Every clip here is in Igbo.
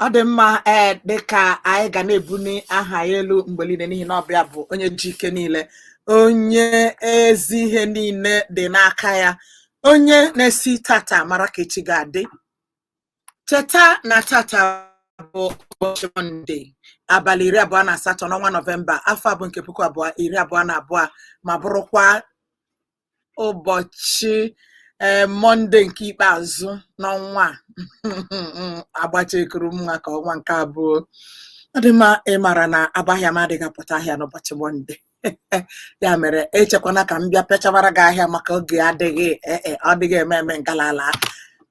ọ dị mma ee eh, dịka anyị ga na-ebuli aha ya elu mgbe niile n'ihi na ọ bụ ya bụ onye ji ike niile onye ezi ihe niile dị n'aka ya onye na-esi tata mara ka echi ga-adị cheta na tata bụ ụbọchị mọnde abalị iri abụọ na asatọ n'ọnwa nọvemba afọ a bụ nke puku abụọ iri abụọ na abụọ ma bụrụkwa ụbọchị ee mọnde nke ikpeazụ n'ọnwa a agbachekuru mma ka ọnwa nke abụọ ọ dị mma ị mara na abọ ahịa m adịghị apụta ahịa n'ụbọchị mọnde ya mere echekwana ka m bịa pịachawara gị ahịa maka oge adịghị ee e, ọ dịghị eme eme ngalala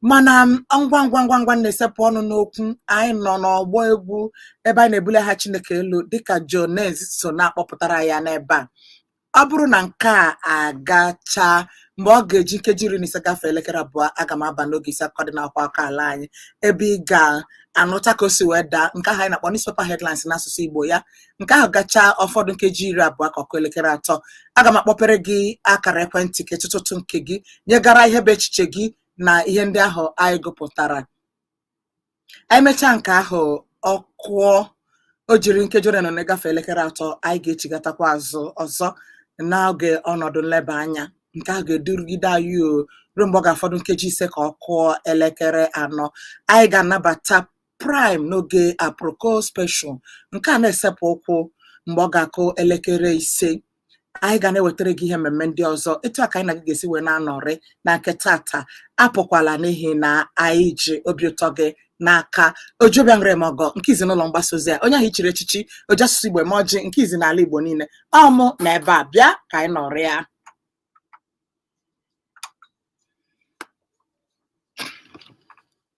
mana ngwa ngwa ngwa ngwa na-esepụ ọnụ n'okwu anyị nọ n'ọgbọ egwu ebe anyị na-ebuli aha Chineke elu dịka Jonez so na-akpọpụtara ya n'ebe a ọ bụrụ na nke a gachaa mgbe ọ ga-eji nkeji iri na ise gafee elekere abụọ aga m aba n'oge isi akụkọ dị n'akwụkwọ akụkọ ala anyị ebe ị ga-anụta ka o si wee daa nke ahụ anyị na-akpọ newspaper headlines n'asụsụ Igbo ya nke ahụ gachaa ọ fọdụ nkeji iri abụọ ka ọ kụọ elekere atọ aga m akpọpere gị akara ekwentị ka ị tụta ụtụ nke gị nyegara ihe bụ echiche gị na ihe ndị ahụ anyị gụpụtara anyị mechaa nke ahụ ọ kụọ o jiri nkeji ole na ole gafee elekere atọ anyị ga-echighatakwa azụ ọzọ n'oge ọnọdụ nleba anya nke ahụ ga-edurugide anyị o ruo mgbe ọ ga-afọdụ nkeji ise ka ọ kụọ elekere anọ anyị ga-anabata Prime n'oge aproko special nke a na-esepụ ụkwụ mgbe ọ ga-akụ elekere ise anyị ga na-ewetara gị ihe mmemme ndị ọzọ etu a ka anyị na gị ga-esi wee na-anọrị na nke tata apụkwala n'ihi na anyị ji obi ụtọ gị n'aka oji obi aṅụrị eme ọgọ nke izi n'ụlọ mgbasa ozi a onye ahụ e chiri echichi oji asụsụ igbo eme ọjị nke izi n'ala igbo niile ọ mụ nọ ebe a bịa ka anyị nọrịa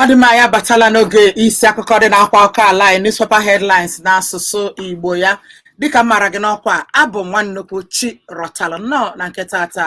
ọ dị mma anyị abatala n'oge isi akụkọ dị n'akwụkwọ akụkọ ala anyị newspaper headlines n'asụsụ igbo ya dịka m mara gị n'ọkwa abụ m nwa nnukwu chi rọtara nnọọ na nke tata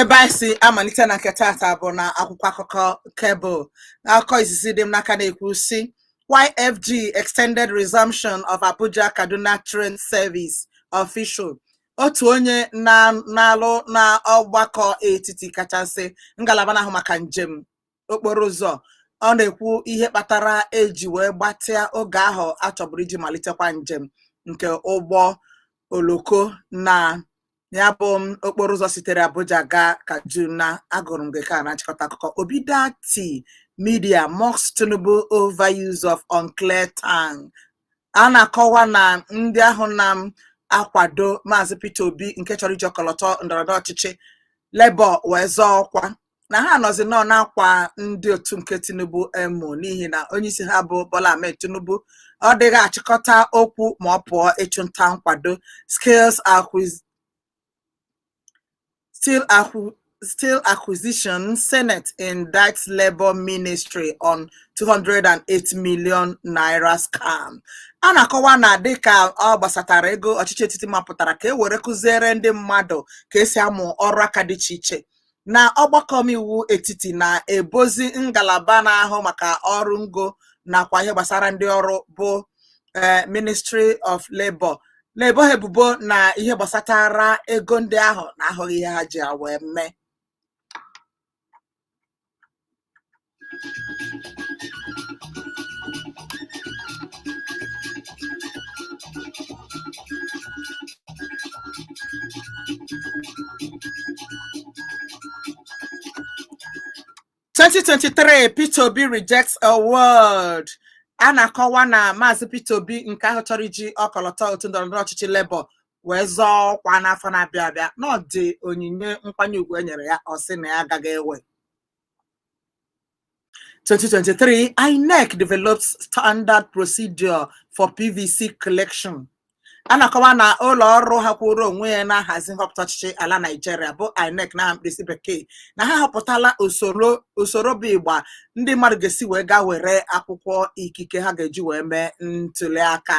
ebe anyị si amalite na nke tata bụ na akwụkwọ akụkọ Cable akụkọ izizi dị m n'aka na-ekwu sị why FG extended resumption of Abuja Kaduna train service official otu onye na-alụ na ọgbakọ etiti kachasị ngalaba na-ahụ maka njem okporo ụzọ ọ na-ekwu ihe kpatara e ji wee gbatịa oge ahụ a chọburu iji malitekwa njem nke ụgbọ oloko na ya bụ m okporo ụzọ sitere Abuja gaa Kaduna agụrụ m gị ka a na-achịkọta akụkọ Obi-Datti Media mocks Tinubu over use of unclear tongue a na-akọwa na ndị ahụ na-akwado Maazị Peter Obi nke chọrọ iji ọkọlọtọ ndọrọndọrọ ọchịchị Labour wee zọọ ọkwa na ha nọzi nnọọ na-akwa ndị otu nke Tinubu emo n'ihi na onyeisi ha bụ Bola Ahmed Tinubu ọ dịghị achịkọta okwu ma ọ pụọ ịchụnta nkwado skills acquisition senate indicts labour ministry on 208 million naira scam a na-akọwa na dịka ọ gbasatara ego ọchịchị etiti mapụtara ka e were kụziere ndị mmadụ ka e si amụ ọrụ aka dị iche iche na ọgbakọ omeiwu etiti na-ebozi ngalaba na-ahụ maka ọrụ ngo nakwa ihe gbasara ndị ọrụ bụ eh, Ministry of Labour na-ebo ha ebubo na ihe gbasatara ego ndị ahụ na ahụghị ihe ha ji ya wee mee 2023 Peter Obi rejects award a na-akọwa na maazị Peter Obi nke ahụ chọrọ iji ọkọlọtọ otu ndọrọndọrọ ọchịchị Labour wee zọọ ọkwa n'afọ na-abịa abịa na ọ dị onyinye nkwanye ugwu e nyere ya ọ sị na ya agaghị ewe 2023, INEC develops standard procedure for PVC collection. a na-akọwa na ụlọ ọrụ ahụ kwụrụ onwe ya na-ahazi nhọpụta ọchịchị ala Naịjirịa bụ INEC n'aha mkpirisi bekee na ha họpụtala usoro bụ ịgba ndị mmadụ ga-esi wee gaa were akwụkwọ ikike ha ga-eji wee mee ntuli aka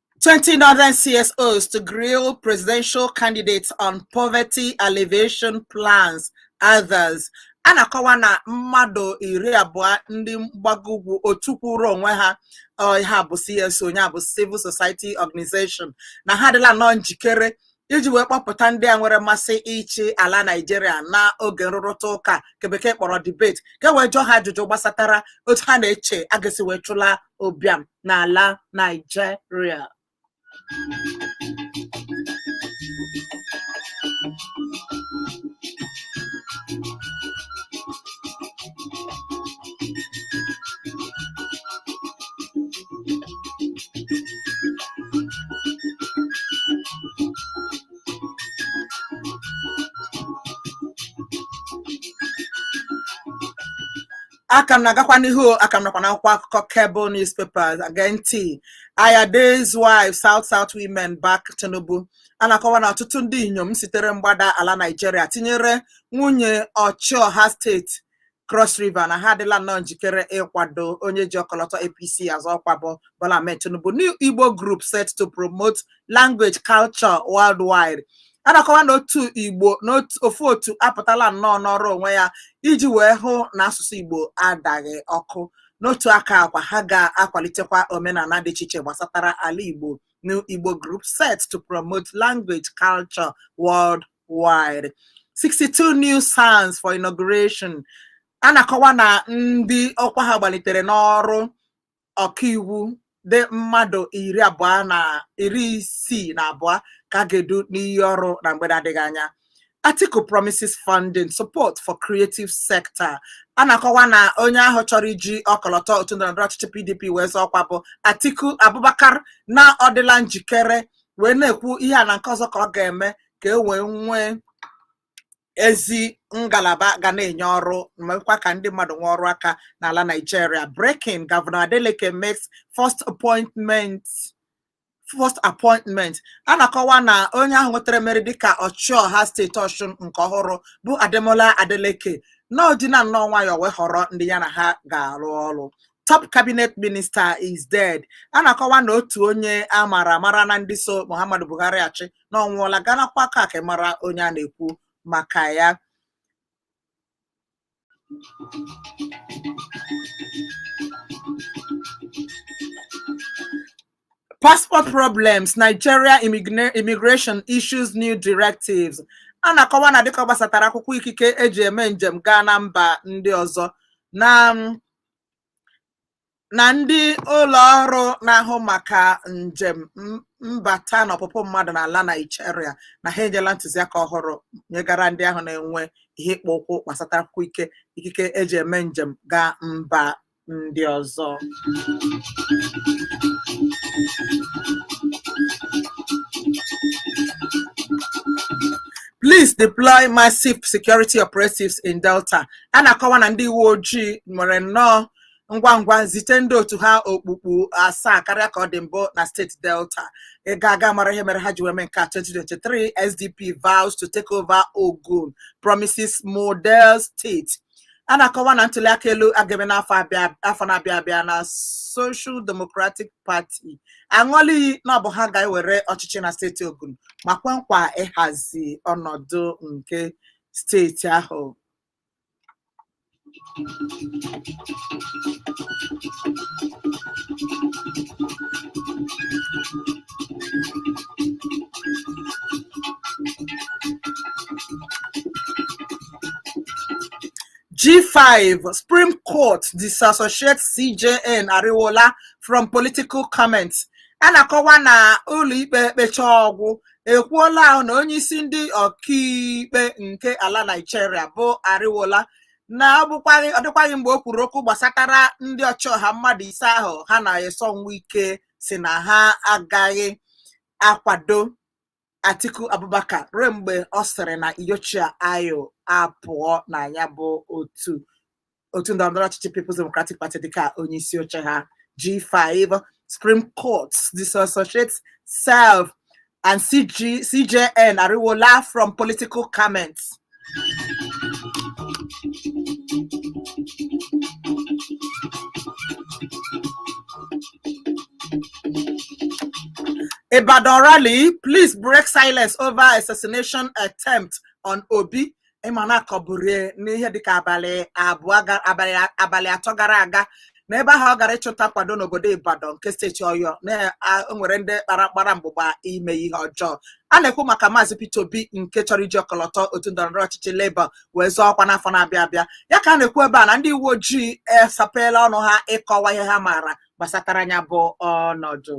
20 northern CSOs to grill presidential candidates on poverty alleviation plans, others. a na-akọwa na mmadụ iri abụọ ndị mgbago ugwu otu kwụrụ onwe ha ha bụ CSO ya bụ Civil Society Organization na ha adịla nnọọ njikere iji wee kpọpụta ndị a nwere mmasị ịchị ala Naịjirịa na oge nrụrịta ụka nke bekee kpọrọ debate ka e wee jụọ ha ajụjụ gbasatara otu ha na-eche a ga-esi wee chụla ụbịam n'ala Naịjirịa aka m na-agakwa n'ihu aka m nọkwa n'akwụkwọ akụkọ cable newspapers gee ntị Ayade's wife south south women back tinubu a na-akọwa na ọtụtụ ndị inyom sitere mgbada ala naijiria tinyere nwunye ọchịọha steeti Cross River na ha adịla nnọọ njikere ịkwado onye ji ọkọlọtọ APC azọ ọkwa bụ Bola Ahmed Tinubu New Igbo group set to promote language culture worldwide a na-akọwa na otu Igbo na otu- ofu otu apụtala nnọọ nọrọ onwe ya iji wee hụ na asụsụ Igbo adaghị ọkụ n'otu aka ahụkwa ha ga-akwalitekwa omenala dị iche iche gbasatara ala Igbo New Igbo group set to promote language culture worldwide wide 62 new SANs for inauguration a na-akọwa na ndị ọkwa ha gbalitere n'ọrụ ọkaiwu dị mmadụ iri abụọ na iri isii na abụọ ka a ga-edu n'iyi ọrụ na mgbe na-adịghị anya Atiku promises funding support for creative sector a na-akọwa na onye ahụ chọrọ iji ọkọlọtọ otu ndọrọndọrọ ọchịchị PDP wee zọọ ọkwa bụ Atiku Abubakar na ọ dịla njikere wee na-ekwu ihe a na nke ọzọ ka ọ ga-eme ka e wee nwee ezi ngalaba ga na-enye ọrụ mekwa ka ndị mmadụ nwee ọrụ aka n'ala Nigeria breaking Governor Adeleke makes first appointment first appointment a na-akọwa na onye ahụ nwetara mmeri dịka ọchịọha steeti Ọshụn nke ọhụrụ bụ Ademola Adeleke na ọ dịla nnọọ nwayọọ wee họrọ ndị ya na ha ga-arụ ọrụ top cabinet minister is dead a na-akọwa na otu onye a mara amara na ndị so Muhammadu Buhari achị na ọ nwụọla gaa n'akwụkwọ akụkọ a ka ị mara onye a na-ekwu maka ya passport problems nigeria immigra- immigration issues new directives a na-akọwa na dịka ọ gbasatara akwụkwọ ikike eji eme njem gaa na mba ndị ọzọ na mm, na ndị ụlọ ọrụ na-ahụ maka njem mbata na ọpụpụ mmadụ n'ala Naịjirịa na ha enyela ntụziaka ọhụrụ nyegara ndị ahụ na-enwe ihe ịkpọ ụkwụ gbasata akwụkwọ ike ikike eji eme njem gaa mba ndị ọzọ Please deploy massive security operatives in Delta a na-akọwa na ndị uwe ojii nwere nnọọ ngwa ngwa zite ndị otu ha okpukpu asaa karịa ka ọ dị mbụ na steeti delta ịga aga mara ihe mere ha ji wee mee nke a 2023 sdp vows to take over ogun promises model state a na-akọwa na ntuliaka elu a ga-eme n'afọ abịa- afọ na-abịa abịa na social democratic party aṅụọla iyi na ọ bụ ha ga-ewere ọchịchị na steeti ogun ma kwe nkwa ịhazi ọnọdụ nke steeti ahụ G5 Supreme Court disassociates CJN Ariwola from political comments. A na-akọwa na ụlọikpe ekpecha ọ gwụ ekwuola ahụ na onye isi ndị ọkaikpe nke ala Naijiria bụ Ariwola na ọ bụkwaghị ọ dịkwaghị mgbe o kwuru okwu gbasatara ndị ọchịọha mmadụ ise ahụ ha na Nyesom Wike si na ha agaghị akwado Atiku Abubakar ruo mgbe ọ sịrị na Iyorchia Ayu apụọ na ya bụ otu otu ndọrọndọrọ ọchịchị People's Democratic Party dịka onye isi oche ha G5 Supreme Court disassociate self and CG, CJN Ariwola from political comments. Ibadan rally, police break silence over assassination attempt on Obi. ị ma na a kọburu n'ihe dịka abalị abụọ ga- abalị abalị atọ gara aga na ebe ahụ ọ gara ịchụta nkwado n'obodo Ibadan nke steeti Ọyọ na a- o nwere ndị kpara gbara mgbụgba ime ihe ọjọọ a na-ekwu maka maazị Peter Obi nke chọrọ iji ọkọlọtọ otu ndọrọndọrọ ọchịchị Labour wee zọọ ọkwa n'afọ na-abịa abịa ya ka a na-ekwu ebe a na ndị uwe ojii esapeela ọnụ ha ịkọwa ihe ha maara gbasatara ya bụ ọnọdụ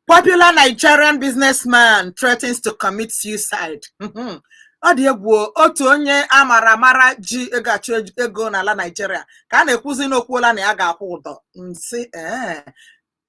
Popular Nigerian businessman threatens to commit suicide. Mhm. ọ dị egwu o, otu onye a mara amara ji ego achụ ej- ego n'ala Naịjirịa ka a na-ekwuzi na o kwuola na ya ga-akwụ ụdọ nsị ee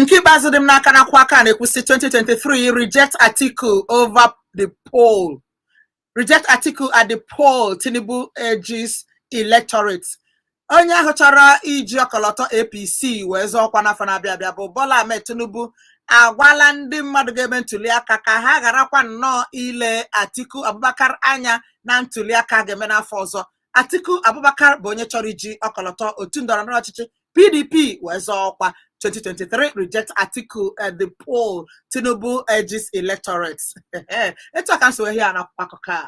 Nke ikpeazụ dị m n'aka n'akwụkwọ a ka na-ekwu sị 2023 reject Atiku over the poll reject Atiku at the poll Tinubu urges electorate onye ahụ chọrọ iji ọkọlọtọ APC wee zọọ ọkwa n'afọ na-abịa abịa bụ Bola Ahmed Tinubu agwala ndị mmadụ ga-eme ntuliaka ka ha gharakwa nnọọ ile Atiku Abubakar anya na ntuliaka ga-eme n'afọ ọzọ Atiku Abubakar bụ onye chọrọ iji ọkọlọtọ otu ndọrọndọrọ ọchịchị PDP wee zọọ ọkwa 2023 reject Atiku at the poll Tinubu urges electorates etu a ka m si hụ ya n'akwụkwọ akụkọ a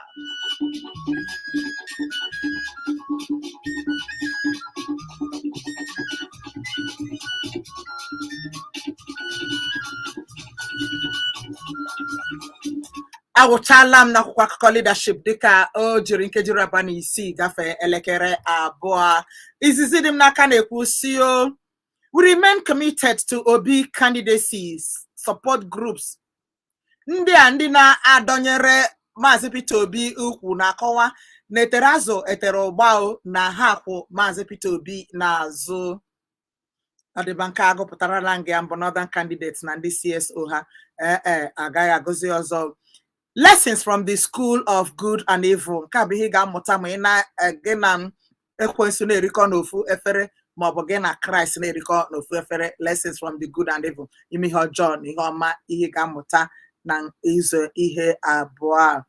awụchaala m n'akwụkwọ akụkọ leadership dịka o jiri nkeji iri abụọ na isii gafee elekere abụọ izizi dị m n'aka na-ekwu sị o we remain committed to obi candidacies support groups ndị a ndị na-adọnyere maazị peter obi ukwu na-akọwa na e tere azụ e tere ụgba o na ha kwụ maazị peter obi n'azụ ọ dị mma nke a agụpụtarala m gị ya mbụ northern candidates na ndị cso ha ee ee agaghị agụzi ọzọ lessons from the school of good and evil nke a bụ ihe ị ga-amụta ma ị na eh, gị na ekwensu na-erikọ n'ofu efere ma ọ bụ gị na kraịst na-erikọ n'ofu efere lessons from the good and evil ime ihe ọjọọ na ihe ọma ihe ị ga-amụta n'ụzọ ihe abụọ a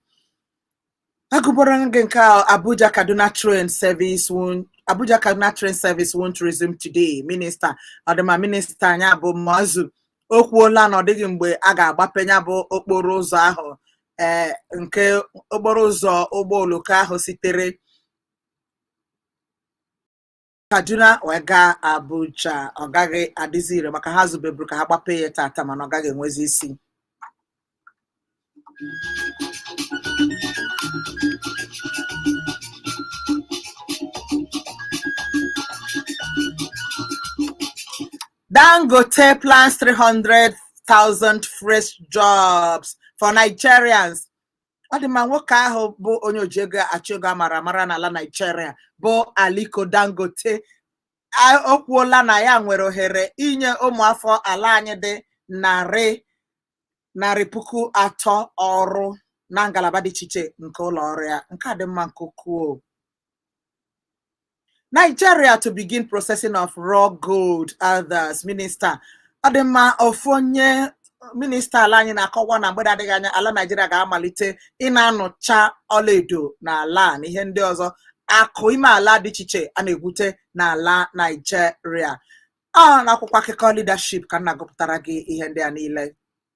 Agụbara gị nke a Abuja Kaduna train service won't Abuja Kaduna train service won't resume today. Minister ọ dị mma minista ya bụ Muazu o kwuola na ọ dịghị mgbe a ga-agbape ya bụ okporo ụzọ ahụ ee nke okporo ụzọ ụgbọ oloko ahụ sitere kaduna wee gaa abuja ọ gaghị adịzi ire maka ha zubeburu ka ha gbapee ya tata mana ọ gaghị enwezi isi Dangote plans 300,000 fresh jobs for Nigerians. ọ dị mma nwoke ahụ bụ onye oji ego achụ ego amara amara n'ala Naijiria bụ Aliko Dangote o kwuola na ya nwere ohere inye ụmụafọ ala anyị dị narị narị puku atọ ọrụ na ngalaba dị iche iche nke ụlọ ọrụ ya nke a dị mma nke ukwuu Nigeria to begin processing of raw gold others minister ọ dị mma ofu onye minista ala anyị na-akọwa na mgbe na-adịghị anya ala Nigeria ga-amalite ịna-anụcha ọlaedo na ala na ihe ndị ọzọ akụ ime ala dị iche iche a na-egwute n'ala Nigeria ọ n'akwụkwọ akụkọ leadership ka m na-agụpụtara gị ihe ndị a niile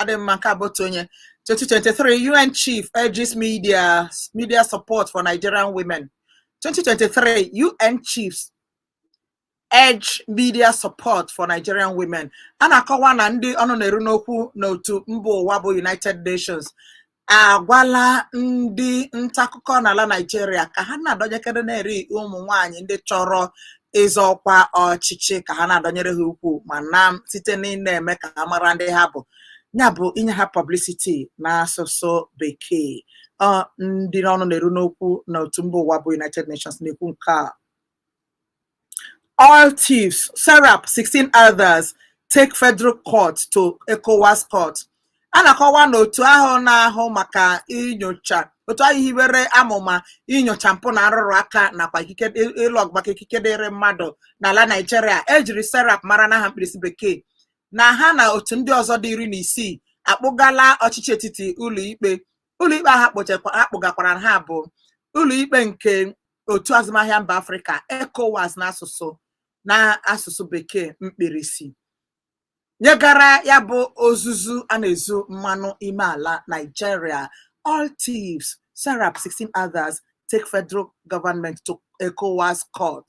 ọ dị mma nke a bụ otu onye 2023 UN Chief urges media media support for Nigerian women 2023 UN Chiefs urge media support for Nigerian women a na-akọwa na ndị ọnụ na-eru n'okwu n'otu mba ụwa bụ United Nations agwala ndị nta akụkọ n'ala Naịjirịa ka ha na-adọnyekere na-eri ụmụ nwaanyị ndị chọrọ ịzọ ọkwa ọchịchị ka ha na-adọnyere ha ukwu ma na site n'ịna-eme ka ha mara ndị ha bụ ya bụ inye ha publicity n'asụsụ bekee ndị n'ọnụ na-eru n'okwu na otu mba ụwa bụ United Nations na-ekwu nke a Oil thieves, Serap 16 others take federal court to ECOWAS court. A na-akọwa na otu ahụ na-ahụ maka inyocha otu ahụ hiwere amụma inyocha mpụ na arụrụ aka nakwa ịlụ ọgụ maka ikike dịrị mmadụ n'ala Naịjirịa ejiri Serap mara n'aha mkpirisi bekee na ha na otu ndị ọzọ dị iri na isii akpụgala ọchịchị etiti ụlọikpe ụlọikpe ahụ akpụgakwara ha bụ ụlọikpe nke otu azụmahịa mba afrịka ECOWAS n'asụsụ bekee mkpirisi nyegara ya bụ ozuzu a na-ezu mmanụ ime ala Nigeria oil thieves serap 16 others take federal government to ECOWAS court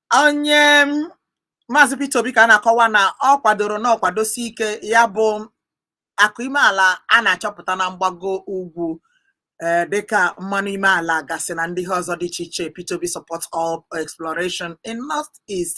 onye maazị Peter Obi ka a na-akọwa na ọ kwadoro na ọ kwadosi ike ya bụ akụ ime ala a na-achọpụta na mgbago ugwu eh, dịka mmanụ ime ala gasị na ndị ihe ọzọ dị iche iche Peter Obi supports oil exploration in north east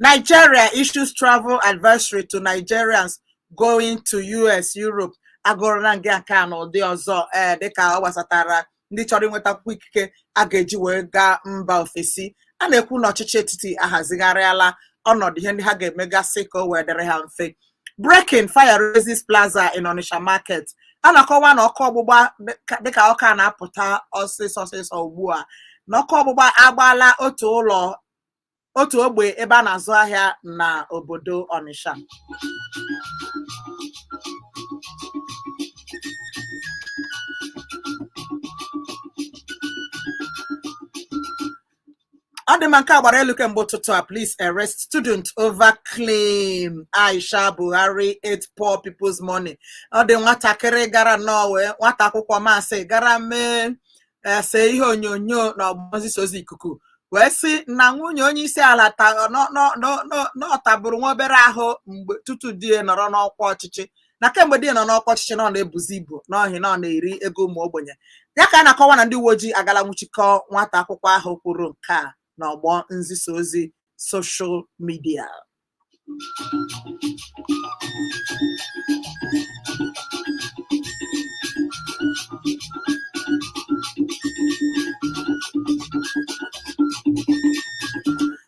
Nigeria issues travel advisory to Nigerians going to US, Europe agụrụla m gị nke a na ụdị ọzọ ee eh, dịka ọ gbasatara ndị chọrọ inweta akwụkwọ ikike a ga-eji wee gaa mba ofesi a na-ekwu na ọchịchị etiti ahazigharịala ọnọdụ ihe ndị ha ga-emegasị ka o wee dịrị ha mfe breaking fire razes plaza in Onitsha market a na-akọwa na ọkụ ọgbụgba dịka ọ ka na-apụta ọsịsọ ọsịsọ ugbu a na ọkụ ọgbụgba agbaala otu ụlọ otu ogbe ebe a na-azụ ahịa na obodo Onitsha ọ dị mma nke a gbara elu kemgbe ụtụtụ a police arrest student over claim Aisha Buhari ate poor people's money ọ dị nwatakịrị gara n'ọwa nwata akwụkwọ masị gara mee see ihe onyonyo na ọgbọ nzisa ozi ikuku wee sị na nwunye onye isi ala na ọ tabụrụ nwa obere ahụ mgbe tutu di ya nọrọ n'ọkwa ọchịchị na kemgbe di ya nọ n'ọkwa ọchịchị na ọ na-ebuzi ibu n'ihi na ọ na-eri ego ụmụ ogbenye ya ka a na-akọwa na ndị uwe ojii agala nwụchikọ nwata akwụkwọ ahụ kwuru nke a n'ọgbọ nzisa ozi soshal midia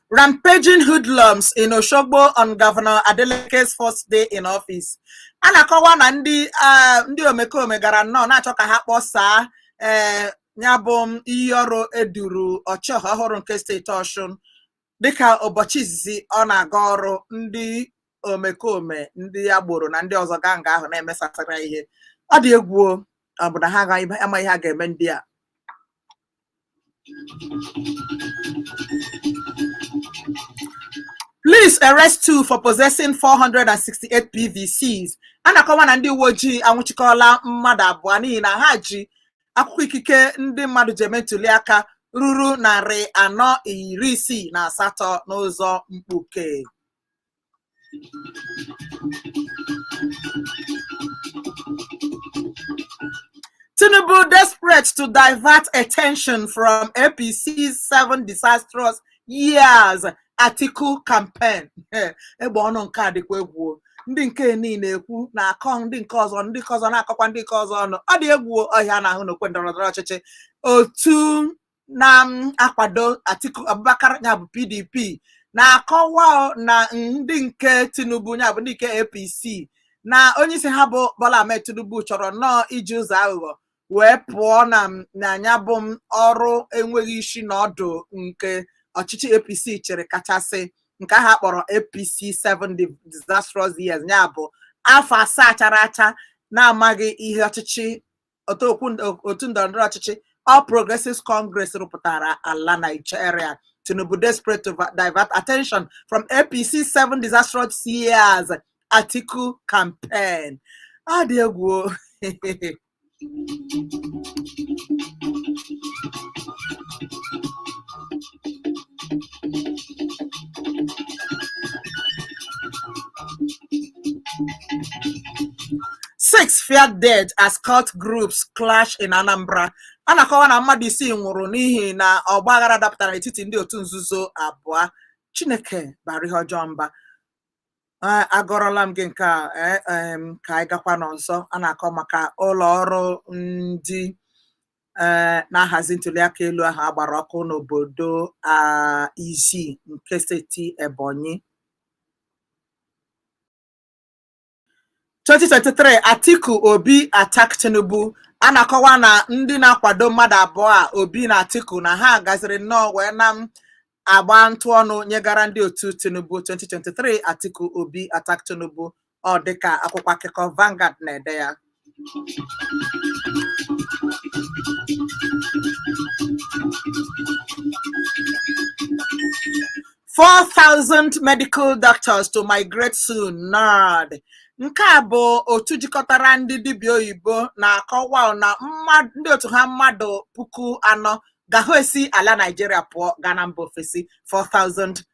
Rampaging hoodlums in Oshogbo on Governor Adeleke's first day in office. A na-akọwa na ndị ah, ndị omekome gara nnọọ na-achọ ka ha kpọsaa eh, ya bụ iyi ọrụ e duru ọchịọha ọhụrụ nke steeti Ọshụn dịka ụbọchị izizi ọ na-aga ọrụ ndị omekome ndị agboro na ndị ọzọ gaa nga ahụ na-emesasara ihe ọ dị egwu o, ọ bụ na ha amaghị ihe a ga-eme ndị a Police arrest two for possessing 468 PVCs. A na-akọwa na ndị uwe ojii anwụchikọọla mmadụ abụọ n'ihi na ha ji akwụkwọ ikike ndị mmadụ ji eme ntuli aka ruru narị anọ iri isii na asatọ n'ụzọ mkpuke. Tinubu desperate to divert attention from APC's seven disastrous years Atiku campaign egbe ọnụ nke a dịkwa egwu ndị nke nị na-ekwu na-akọ ndị nke ọzọ ndị nke ọzọ na-akọkwa ndị nke ọzọ ọnụ ọ dị egwu o ihe a na-ahụ n'okwe ndọrọ ndọrọ ọchịchị otu na-akwado um, Atiku Abubakar ya bụ PDP na-akọwa na ndị nke Tinubu ya bụ ndị nke APC na onyeisi ha bụ Bola Ahmed Tinubu chọrọ nnọọ iji ụzọ aghụghọ wee pụọ na na ya bụ m ọrụ enweghị isi na ọdụ nke ọchịchị APC chịrị kachasị nke ha kpọrọ APC 7 disastrous years ya bụ afọ asaa chara acha na-amaghị ihe ọchịchị otu ndọrọndọrọ ọchịchị All Progressives Congress rụpụtara ala Nigeria Tinubu desperate to divert attention from APC seven disastrous years Atiku campaign ọ dị egwu o. Six feared dead as cult groups clash in Anambra. A na-akọwa na mmadụ isii nwụrụ n'ihi na ọgba aghara dapụtara n'etiti ndị otu nzuzo abụọ. Chineke bara ihe ọjọọ mba. Eh, Agụọrọla m gị nke a eh, em, ka anyị gakwa n'ọzọ. A na-akọ maka ụlọ ọrụ ndị eh, na-ahazi ntuliaka elu ahụ a gbara ọkụ n'obodo ah, Izzi nke steeti Ebonyi 2023 Atiku Obi attack Tinubu a na-akọwa na ndị na-akwado mmadụ abụọ a Obi na Atiku na ha gaziri nnọọ wee na-agba ntụ ọnụ nyegara ndị otu Tinubu 2023 Atiku Obi attack Tinubu ọ dịka akwụkwọ akụkọ Vanguard na-ede ya four thousand medical doctors to migrate soon NARD nke a bụ otu jikọtara ndị dibịa oyibo na-akọwa na ndị otu ha mmadụ puku anọ ga-ahụ esi ala Naịjirịa pụọ gaa na mba ofesi 4000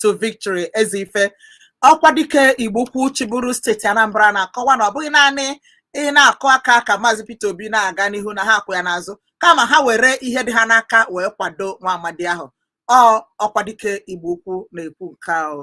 to victory ezeife ọkwadike igbo ukwu chịburu steeti anambra na-akọwa na ọ bụghị naanị ị na-akụ aka ka maazị peter obi na-aga n'ihu na ha akwụ ya n'azụ kama ha were ihe dị ha n'aka wee kwado nwa amadi ahụ ọ ọkwadike igbo ukwu na-ekwu nke ahụ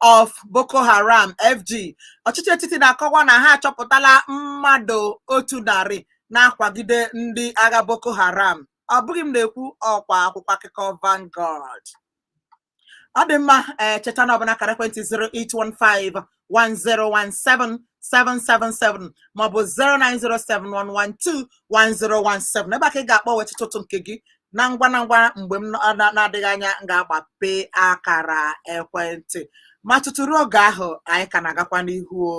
of Boko Haram FG ọchịchị etiti na-akọwa na ha achọpụtala mmadụ otu narị na-akwagide ndị agha Boko Haram ọ bụghị m na-ekwu ọkwa akwụkwọ akụkọ Vanguard ọ dị mma ee eh, cheta na ọ bụ n'akara ekwentị 0815 1017 777 maọbụ 09071121017 ebe a ka ị ga-akpọ wee tụtụ ụtụ nke gị na ngwa na ngwa mgbe m na-adịghị anya m ga-agbape akara ekwentị ma tutu ruo oge ahụ anyị ka na-agakwa n'ihu o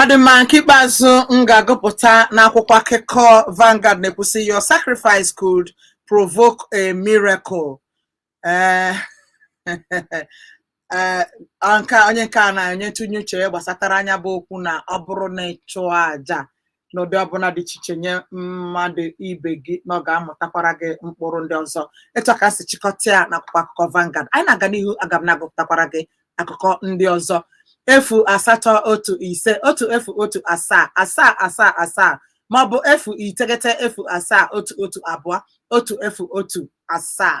Ọ dị mma nke ikpeazụ m ga-agụpụta n'akwụkwọ akụkọ Vanguard na-ekwu sị your sacrifice could provoke a miracle. Eh, eh, nke a- onye nke a na-enye ntụnye uche ya gbasatara nya bụ okwu na ọ bụrụ na ị chụọ aja n'ụdị ọbụla dị iche iche nye mmadụ ibe gị na ọ ga-amụtakwara gị mkpụrụ ndị ọzọ etu a ka m si chịkọta ya n'akwụkwọ akụkọ Vanguard anyị na-aga n'ihu aga m na-agụpụtakwara gị akụkọ ndị ọzọ efu asatọ otu ise otu efu otu asaa asaa asaa asaa maọbụ efu iteghete efu asaa otu otu abụọ otu efu otu asaa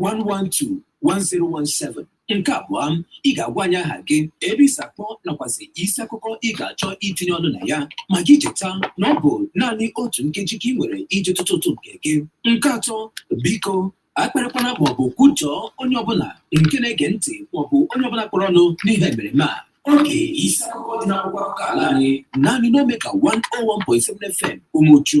112-1017 nke abụọ ị ga-agwa anyị aha gị ebe i si akpọ nakwazi isi akụkọ ị ga-achọ itinye ọnụ na ya ma gị cheta na ọ bụ naanị otu nkeji ka ị nwere iji tụtụ ụtụ nke gị nke atọ biko akparịkwana maọbụ kwujọọ onye ọbụla nke na-ege ntị maọbụ onye ọbụla kpọrọ ọnụ n'ihe emereme a oge isi akụkọ dị n'akwụkwọ akụkọ ala anyị naanị n'Omega 101.7 FM Umuchu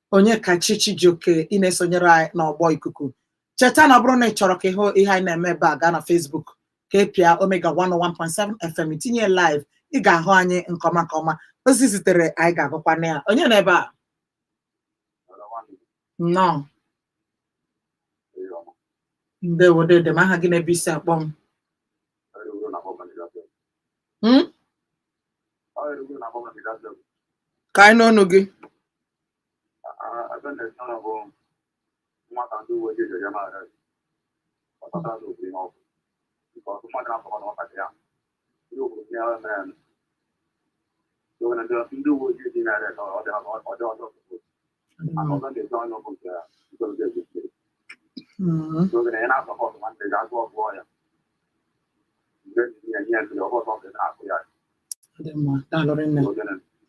Onyekachi Chijioke ị na-esonyere anyị n'ọgbọ ikuku cheta na ọ bụrụ na ị chọrọ ka ị hụ ihe anyị na-eme ebe a gaa na Facebook ka ị pịa omega 101.7 fm i tinye live ị ga-ahụ anyị nke ọma nke ọma ozi i zitere anyị ga-agụkwa na ya onye nọ ebe a nnọọ ndewo dede m aha gị na ebe i si akpọ m Hmm? ka anyị nụ onu gị ndị uwe ojii dị narị ọjọọ ọjọọ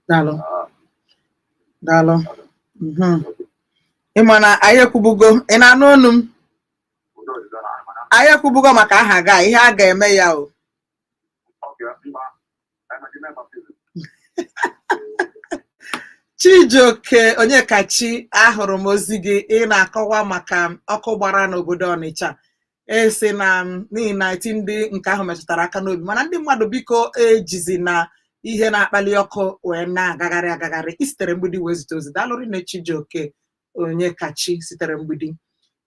daalụ daalụ ị ma na anyị ekwubugo ị na-anụ onu m anyị ekwubugo maka aha ga ihe a ga-eme ya o Chijioke Onyekachi ahụrụ m ozi gị ị na-akọwa maka ọkụ gbara n'obodo Ọnịcha ị sị na ị na-eti ndị nke ahụ metụtara aka n'obi mana ndị mmadụ biko ejizina ihe na-akpali ọkụ wee na-agagharị agagharị i sitere Mgbidi wee zite ozi daalụ rinne Chijioke Onyekachi sitere Mgbidi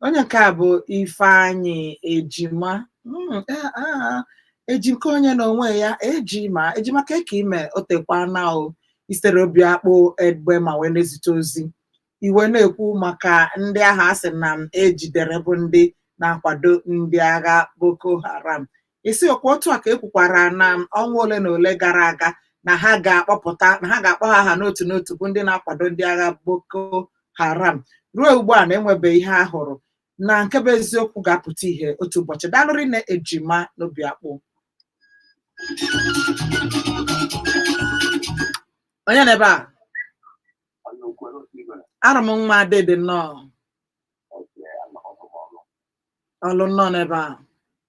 onye nke a bụ Ifeanyị Ejima Mm, ah, ah, Ejimkonye na onwe ya ejima ejima kee ka ị me o teekwana o i sitere Obiakpụ Egbema wee na-ezite ozi i wee na-ekwu maka ndị ahụ a sị na e jidere bụ ndị na-akwado ndị agha boko haram ị sị ọkwa otu a ka e kwukwara na ọnwa ole na ole gara aga na ha ga-akpọpụta na ha ga-akpọ ha aha n'otu n'otu bụ ndị na-akwado ndị agha Boko Haram ruo ugbu a na e nwebeghị ihe a hụrụ na nke bụ eziokwu ga-apụta ihe otu ụbọchị daalụ rinne Ejima n'Obiakpụ onye nọ ebe a arụ m nwa dede nnọọ ọlụ nnọọ n'ebe a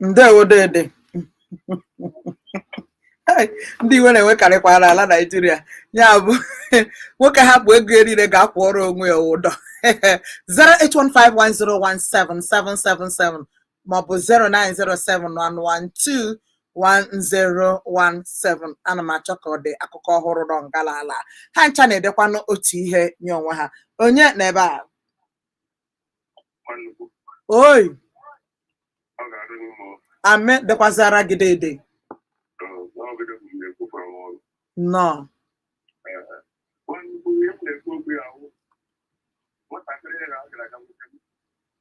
ndewo dede ndị iwe na-ewekarịkwa n'ala naijiria ya bụ nwoke hapụ ego erire gaa kwụọrọ onwe ya ụdọ 08151017777 maọbụ 0907112 1017 ana m achọ ka ọ dị akụkọ ọhụrụ nọ ngala ala ha ncha na-edekwanụ otu ihe nye onwe ha onye n'ebe a Nwanukwu, oi ọ ga-adị gị mma. amen dịkwazịara gị dede Ee, n'ọgịdị bụ mgbe ekwukwara m ọrụ. nọ Ee, nwanukwu, ihe m na-ekwu okwu ya bụ, nwatakịrị ya ga-aga nwoke m.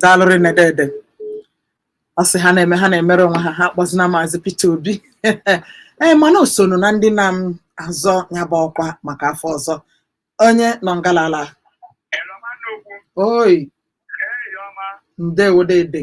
daalụrị na dede ọ sị ha na-eme ha na-emere onwe ha ha akpọzina maazị Peter Obi ee mana o sonụ na ndị na-azọ ya bụ ọkwa maka afọ ọzọ onye nọ ngalala oi ndewo dede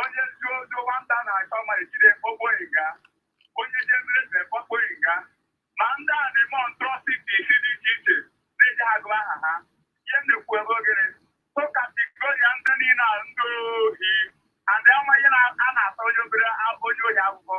onye zuo ojo nwata na-achọ ma ejide okpoghị nga onye ji emere eze okpoghị nga ma ndị a na-eme atrocities dị iche iche na-eji agụ aha ha ihe m na-ekwu ebe ogere tokatigoria ndị niile a ndị ohi adị ama ihe na- a na-ata onye obere a- onye ohi akwụkwọ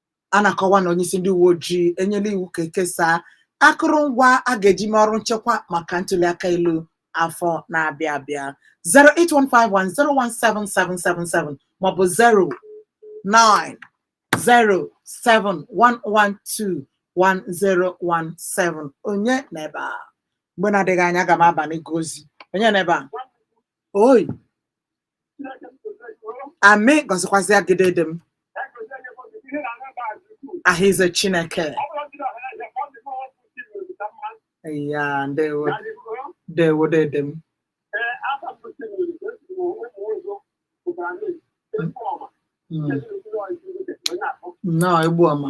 a na-akọwa na onyeisi ndị uwe ojii enyela iwu ka ekesaa akụrụngwa a ga-eji mee ọrụ nchekwa maka ntuliaka elu afọ na-abịa abịa 08151017777 maọbụ 09071121017 onye n'ebe a mgbe na-adịghị anya aga m aba n'ịgụ ozi onye n'ebe a oi amen gọzikwazịa gị dede m aha ize chineke ya ndewo ndewo dede m Mm. nnọọ Egbuọma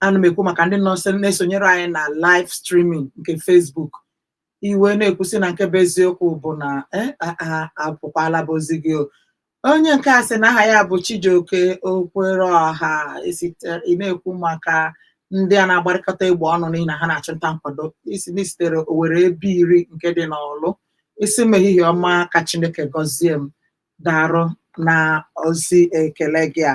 ana m ekwu maka ndị nọ nso na-esonyere anyị na live streaming nke Facebook i wee na-ekwu sị na nke bụ eziokwu bụ na eh, a- a- apụkwala bụ ozi gị o. onye nke a sị na aha ya bụ Chijioke Okwere Ọha esite- ị na-ekwu maka ndị a na-agbarịkọta egbe ọnụ n'ihi na ha na-achụ nta nkwado ị sị na i sitere Owere Ebeiri nke dị n'Ọlụ ị sị m ehihie ọma ka Chineke gọzie m darụ na ozi ekele gị a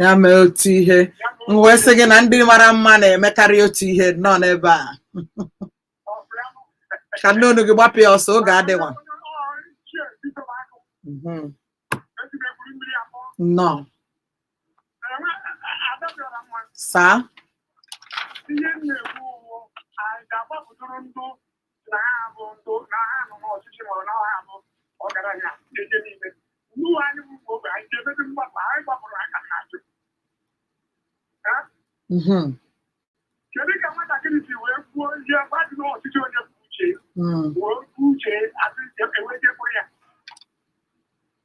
ya mee otu ihe m wee sị gị na ndị mara mma na-emekarị otu ihe nọ n'ebe a ka m nụ ọnụ gị gbapụ ya ọsọ oge adịwa mhm. nnọọ saa na ha bụ ndụ na ha nọ n'ọchịchị ma ọ bụ na ha bụ ọgaranya ihe niile nnuwe anyị bụ ụmụ ogbenye ga-emebi mgbapụ anyị gbapụrụ aka na ajụ mm-hmm. kedu ka nwatakịrị si wee kwuo ihe gbadị n'ọchịchị onye bụ uche mm. wee kwuo uche asị enweghị ekwere ya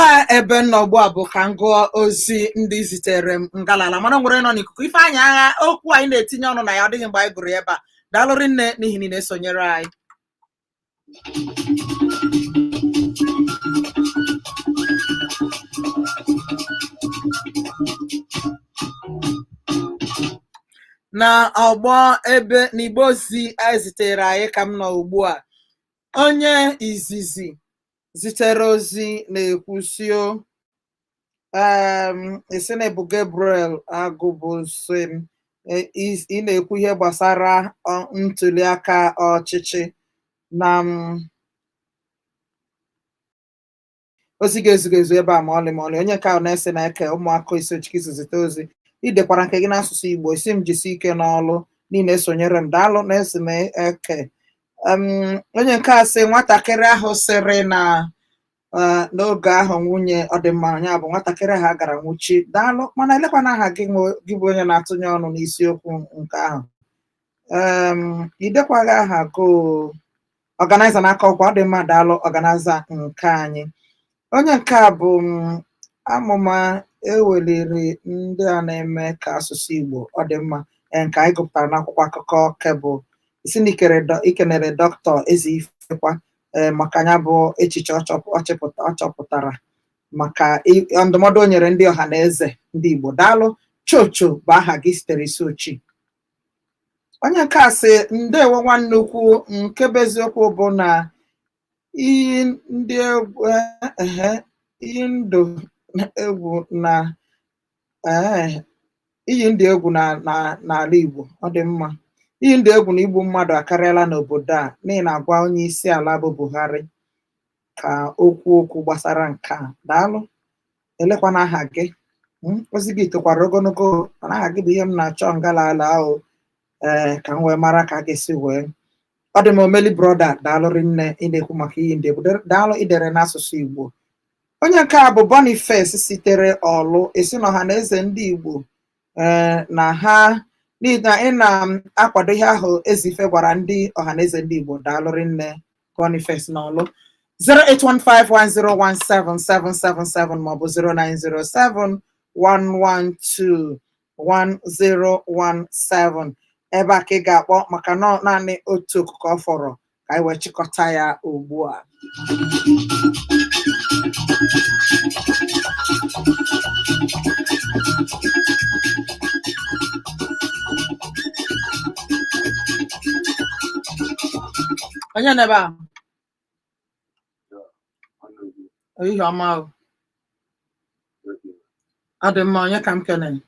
a ebe m nọ ugbu a bụ ka m gụọ ozi ndị zitere m ngalala mana o nwere nọ n'ikuku ife anyị agha okwu anyị na-etinye ọnụ na ya ọ dịghị mgbe anyị gụrụ ya ebe a daalụ rinne n'ihi na ị na-esonyere anyị na ọgbọ ebe n'igbe ozi e zitere anyị ka m nọ ugbu a onye izizi zitere ozi na-ekwu sị o ị sị na ị bụ Gabriel Agubosim ị na-ekwu ihe gbasara ntuli aka ọchịchị na ozi gị ezughị ezu ebe a ma ọlị ma ọlị onye nke a Nelson Eke Umuaku Isuochi ka i si zite ozi i dekwara nke gị n'asụsụ Igbo ị sị m jisi ike n'ọlụ niile esonyere m daalụ Nelson Eke Em, onye nke a sị nwatakịrị ahụ sịrị na eh, n'oge ahụ nwunye ọ dị mma ya bụ nwatakịrị ahụ a gara nwụchi daalụ mana elekwanụ aha gị nwe- gị bụ onye na-atụnye ọnụ n'isiokwu nke ahụ Em, i dekwaghị aha gị o. Organizer n'Akokwa ọ dị mma daalụ Organizer nke anyị Onye nke a bụ um, amụma e weliri ndị a na-eme ka asụsụ Igbo ọ dị mma ee, nke anyị gụpụtara n'akwụkwọ akụkọ Cable ị sị na i kere dọ- i kenere dọkịta Ezeife kwa ee, maka ya bụ echiche ọ chọp- ọ chịpụta- ọ chọpụtara maka i- ndụmọdụ o nyere ndị ọha na eze ndị Igbo daalụ Chocho bụ aha gị sitere Isuochi onye nke a sị ndewo nwanne ukwu nke bụ eziokwu bụ na Iyi ndị egwu ehe iyi ndụ egwu na ee iyi ndị egwu na na n'ala Igbo ọ dị mma iyi ndụ egwu na igbu mmadụ akarịala n'obodo a n'ihi na a gwa onye isi ala bụ Buhari ka o kwuo okwu gbasara nke a daalụ elekwanụ aha gị Mm, ozi gị tokwara ogologo mana aha gị bụ ihe m na-achọ ngalala ahụ ee ka m wee mara ka a ga-esi wee ọ dị m omeli brọda daalụ rinne ị na-ekwu maka iyi ndị egwu daalụ i dere n'asụsụ igbo onye nke a bụ boniface sitere ọlụ ị sị na ọhanaeze ndị igbo ee na ha n'ihi na ị na-akwado ihe ahụ ezeife gwara ndị ọhanaeze ndị igbo daalụ rinne boniface n'ọlụ 08151017777 maọbụ 0907 112 1017 ebe a ka ị ga-akpọ maka na ọ naanị otu oku ka ọ fọrọ ka anyị wee chịkọta ya ugbu a onye nọ ebe a ehihie ọma ahụ ọ dị mma onye ka m kenere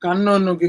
ka m nụ onu gị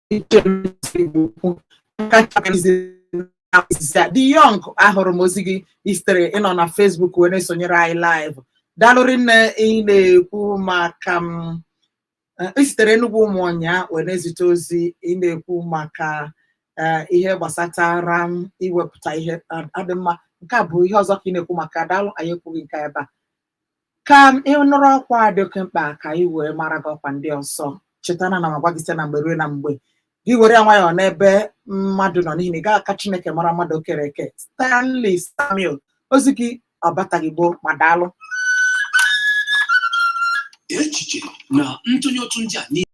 the young ahụrụ m ozi gị i sitere ị nọ na Facebook wee na-esonyere anyị live daalụ rinne ị na-ekwu maka m eh, i sitere Enugwu Ụmụọnyịa wee na-ezite ozi ị na-ekwu maka eh, ihe gbasatara m iwepụta ihe adị mma nke a bụ ihe ọzọ ka ị na-ekwu maka daalụ anyị ekwughị nke ebe a ka ị nụrụ ọkwa a dị oke mkpa ka anyị wee mara gị ọkwa ndị ọzọ cheta na ana m agwa gị site na mgbe ruo na mgbe gị were ya nwayọọ n'ebe mmadụ nọ n'ihi na ị gaghị aka chineke mara mmadụ o kere eke stanley samuel ozi gị ọ bataghị gboo ma daalụ echiche na ntụnye otu ndị a niile